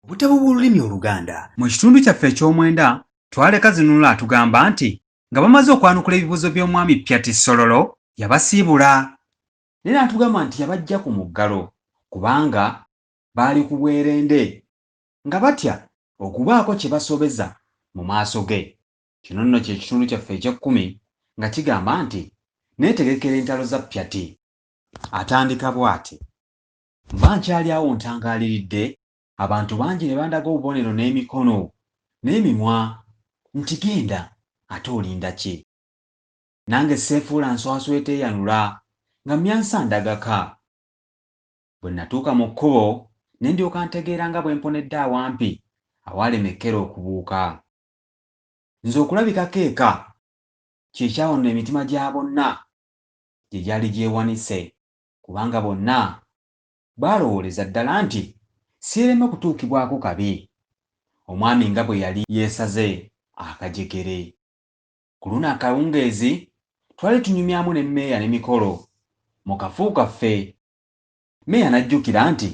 Obutabo bw'olulimi Oluganda. Mu kitundu kyaffe eky'omwenda, Twaleka Zinunula atugamba nti nga bamaze okwanukula ebibuuzo by'omwami Pyati Sololo, yabasiibula. Naye n'atugamba nti yabaggya ku muggalo kubanga baali ku bwerende nga batya okubaako kye basobeza mu maaso ge. Kino nno kye kitundu kyaffe eky'ekkumi nga kigamba nti Neetegekera entalo za Pyati. Atandika bwati. Mba nkyali awo ntangaaliridde, abantu bangi ne bandaga obubonero n'emikono, n'emimwa, nti, Genda, ate olinda ki? Nange sseefuula nswaswa eteeyanula, nga mmyansa ndagaka. Bwe nnatuuka mu kkubo, ne ndyoka ntegeera nga bwe mponedde awampi awaalema ekkere okubuuka. Nze okulabikako eka, kye kyawanula emitima gya bonna gye gyali gyewanise. kubanga bonna baalowooleza ddala nti siireme kutuukibwako kabi, omwami nga bwe yali yeesaze akajegere. Ku luno akawungeezi twali tunyumyamu ne mmeeya ne mikolo mu kafu kaffe, mmeeya n'ajjukira nti,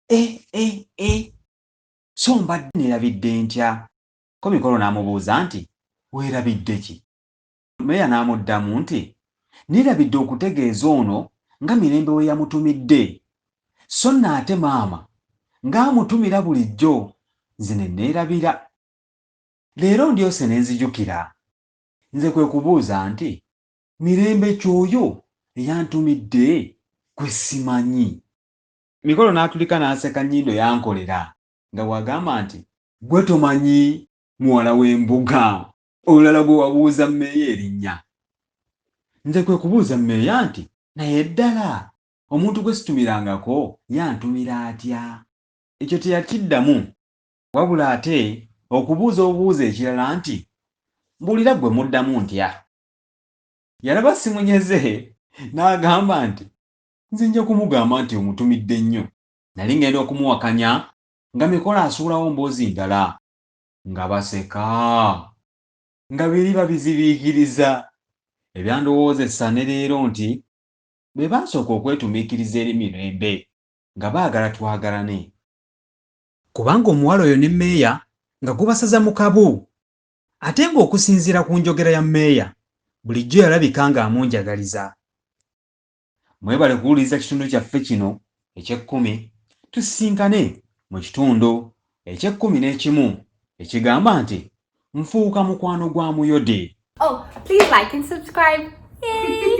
E-e-e! So mbadde neerabidde ntya? Ko mikolo n'amubuuza nti, Weerabidde ki? Meeya n'amuddamu nti, Nneerabidde okutegeeza ono nga Mirembe we yamutumidde, sso nno ate maama nga amutumira bulijjo, nze ne nneerabira. Leero ndyose ne nzijukira. Nze kwe kubuuza nti, Mirembe ky'oyo eyantumidde gwe simanyi? Mikolo n'atulika n'aseka nnyindo yankolera nga bw'agamba nti. Ggwe tomanyi muwala w'embuga? Olulala gwe wabuuza mmeeya erinnya. Nze kwe kubuuza mmeeya nti, Naye ddala omuntu gwe situmirangako yantumira atya? Ekyo teyakiddamu wabula ate okubuuza obubuuza ekirala nti, Mbuulira ggwe mmuddamu ntya? Yalaba simunyeze n'agamba nti, Nze nja kumugamba nti omutumidde nnyo. Nali ŋŋenda okumuwakanya nga Mikolo asuulawo mboozi ndala. nga baseka nga biri babizibiikiriza ebyandowoozesa ne leero nti be baasooka okwetumiikiriza eri Mirembe nga baagala twagalane kubanga omuwala oyo ne Meeya nga gubasaza mu kabu ate ng'okusinziira ku njogera ya Meeya bulijjo yalabika ng'amunjagaliza. Mwebale kuwuliriza kitundu kyaffe kino eky'ekkumi. Tusisinkane mu kitundu eky'ekkumi n'ekimu ekigamba nti Nfuuka Mukwano gwa Muyode. Oh, please like and subscribe. Yay!